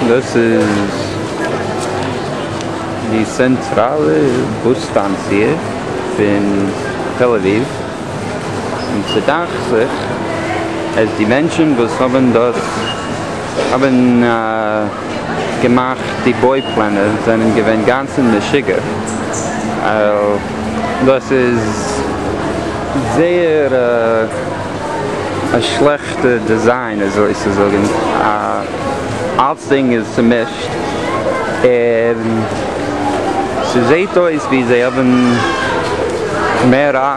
דאס איז די צענטראלע באס סטאנציע פון תל אביב, און ס'דאכט זיך אז די מענטשן וואס האבן דארט האבן א. געמאכט די בוי פלענער זענען געווען גאנץ אין משוגע דאס איז זייער א שלעכטע דעזיין אזוי צו זאגן אלצדינג איז צומישט און ס'זעהט אויס ווי זיי האבן מער.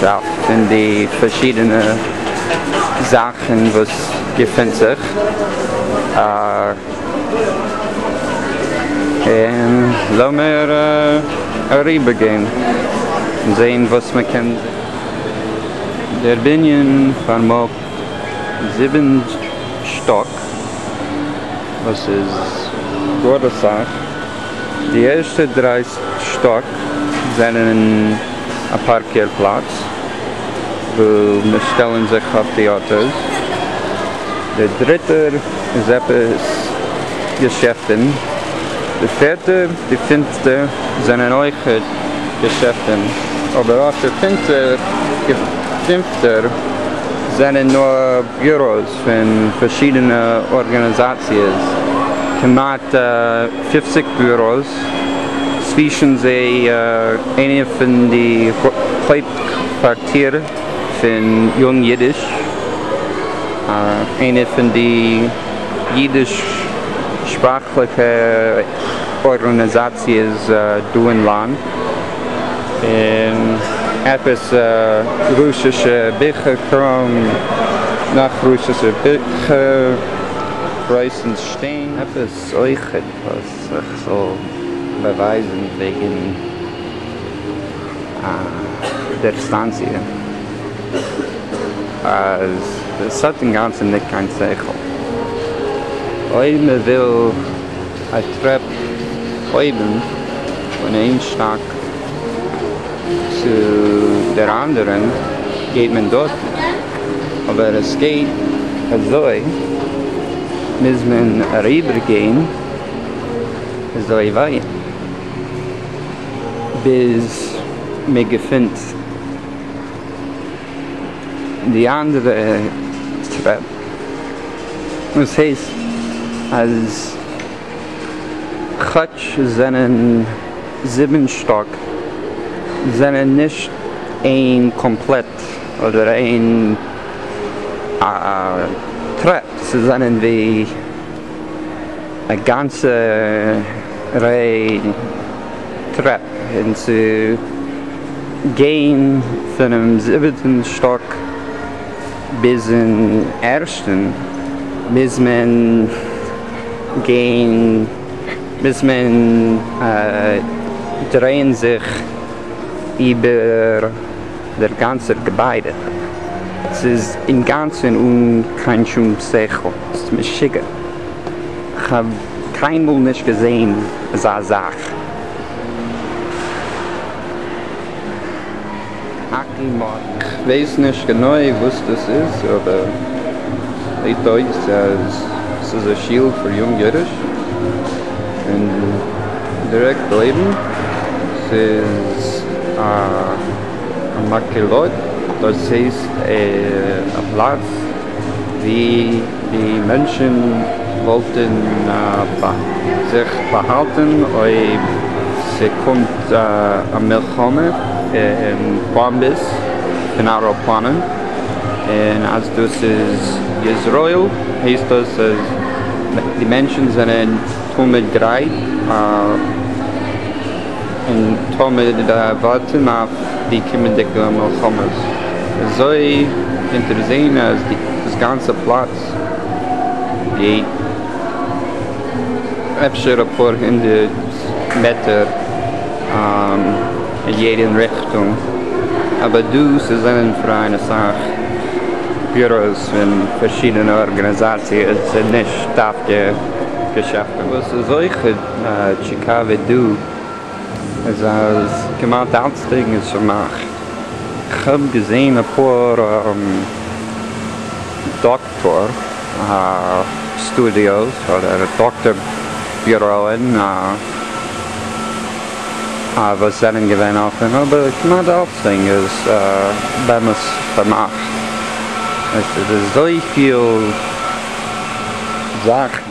שאפט פון די פארשידענע זאכן וואס געפונט זיך און לאמיר אריבער גיין און זעהן וואס מען קען זיך דערמאנען. דער בנין פארמאגט זיבן שטאק וואס איז גאר אסאך. די ערשטע דריי שטאק זענען אין א פארקער פלאץ וואו מיר שטעלן זיך אויף די אוטאס, דער דריטער איז עפעס געשעפטען, די פערטע די פינפטע זענען אויך געשעפטען, אבער אויף דער פינפטער זענען נאר ביוראס. פון פארשידענע ארגאניזאציעס, כמעט פופציג ביוראס, צווישן זיי איינע פון די הויפטקווארטיר פון יונג אידיש, איינע פון די אידיש שפראכליכע ארגאניזאציעס דא אין לאנד. און עפעס רוסישע ביכער קראום נאך רוסישע ביכער רויסנס שטיין. עפעס אויכעט וואס איך זאל באווייזן וועגן דער סטאנציע אז ס'האט אינגאנצן ניט קיין שכל אויב מ'וויל. א טרעפ אויבן פון איין שטאק צו דער אנדערען גייט מען דארט, אבער עס גייט אזוי מוז מען אריבער גיין אזוי ווייט ביז מען געפינט. די אנדערע טרעפ וואס הייסט אז כאטש עס זענען זיבן שטאק זענען נישט איין קאמפלעט אדער איין טרעפ ס'איז זענען ווי א גאנצע ריי. טרעפ און צו גיין פונעם זיבעטן שטאק ביזן ערשטן מוז מען גיין, מוז מען דרייען זיך איבער. דער גאנצער געביידע. ס'איז אינגאנצען אן קיין שום שכל. ס'איז משוגע. כ'האב קיינמאל נישט געזעהן אזא זאך. האקי מארק. כ'ווייס נישט גענוי וואס דאס איז אבער זעהט אויס אז ס'איז א שול פאר יונג אידטיש. און דירעקט אויבן ס'איז א מקהלות דאס הייסט א פלאץ ווי די מענטשען וואלטען זיך באהאלטען אויב ס'קומט א מלחמה און באמבעס פון עראפלאנען. און אז דאס איז יזרעאל הייסט דאס אז די מענטשן זענען תמיד גרייט און תמיד ווארטן אויף די קומענדיגע מלחמות, אזוי קענט איר זעהן אז דאס גאנצע פלאץ גייט אפשר אפאר הונדערט מעטער. אין יעדע ריכטונג, אבער דא ס'זענען פאראן אסאך ביוראוס פון פארשידענע ארגאניזאציעס און נישט דווקא געשעפטן. וואס איז אויך טשיקאווע דא איז אז כמעט אלצדינג איז פארמאכט, כ'האב געזען אפאר דאקטערס. פאר סטודיאוס אדער דאקטאר ביוראען וואס זענען געווען אפען, אבער כמעט אלצדינג איז באמת פארמאכט, עס איז אזויפיל זאכן.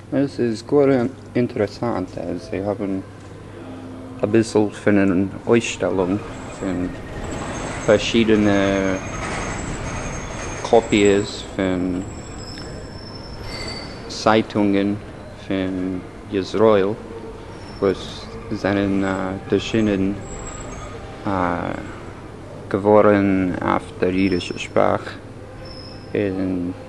עס איז גאר אינטערעסאנט אז זיי האבן אביסל פון אן אויסשטעלונג פון פארשידענע קאפיעס פון צייטונגען פון ישראל וואס זענען ערשינען געווארן אויף דער אידישער שפראך און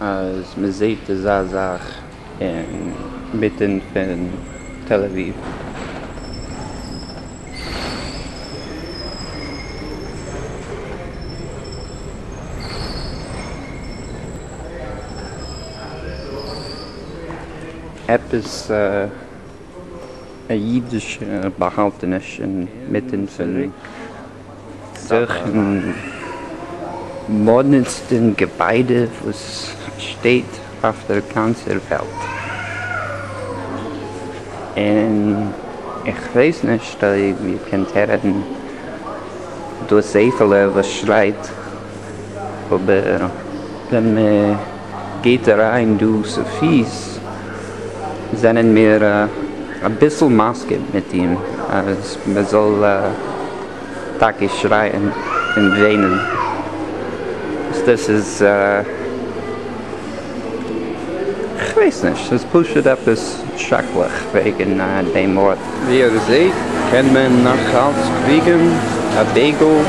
אז מען זעהט אזא זאך אין מיטען פון תל אביב. עפעס א אידישע באהאלטעניש אין מיטען פון. דורכן מאדנעסטן געביידע וואס שטייט אויף דער גאנצער וועלט, און איך ווייס נישט אויב איר קענט הערן דאס זעפעלע וואס שרייט, אבער ווען מען. גייט אריין דא סופי'ס זענען מיר אביסל מסכים מיט אים אז מען זאל טאקע שרייען און וויינען וואס דאס איז כ'ווייס נישט ס'איז פשוט עפעס שרעקליך וועגן דעם ארט. ווי איר זעהט קען מען נאכאלץ קריגן א דגל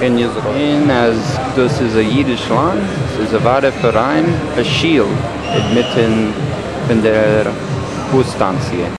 אין איזראעל. און אז דאס איז א אידיש לאנד, ס'איז אוודאי פאראיין א שול אינמיטן פון דער באס סטאנציע.